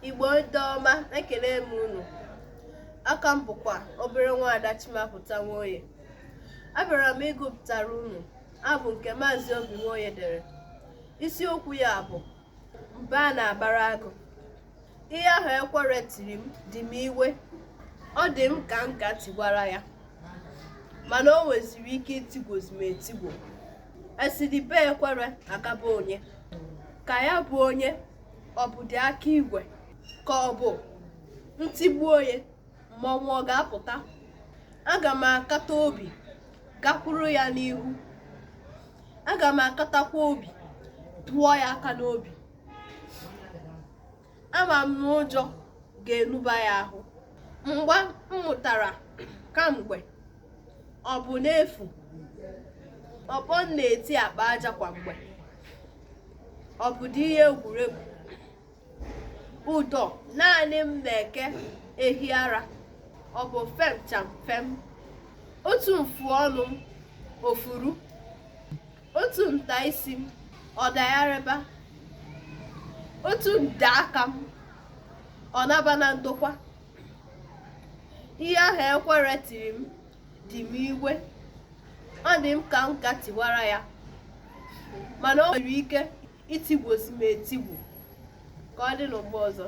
Igbo ndị ọma ekele m unu aha m bụkwa obere nwaada Chimapụta Nwoye abịara m ịgụpụtara unu abụ nke Maazị Obi Nwoye dere isiokwu ya bụ mba a na-abara agụ ihe ahụ ekwere tiri m dị m iwe ọ dị m ka m ka tigwara ya mana o nweziri ike itigbuzi m etigbu esidi be ekwere akaba onye ka ya bụ onye ọ bụ dị aka igwe ka ọ bụ ntigbu onye mmọnwụ ọ ga-apụta aga m akata obi gakwuru ya n'ihu aga m akatakwa obi tụọ ya aka n'obi ama m na ụjọ ga-enuba ya ahụ mgba m mụtara kamgbe ọ bụ n'efu ọkpọ m na-eti akpa aja kwa mgbe ọ bụ dị ihe egwuregwu ụdọ naanị m na-eke ehi ara ọ bụ fem cham fem otu mfu ọnụ m o furu otu nta isi m ọ dagharịba otu nde aka m ọ naba na ndokwa ihe ahụ ekwere tiri m dị m iwe ọ dị m ka m ka tigwara ya mana o nwere ike itigbuzi m etigbu ka ọ dị n'ụgbọ ọzọ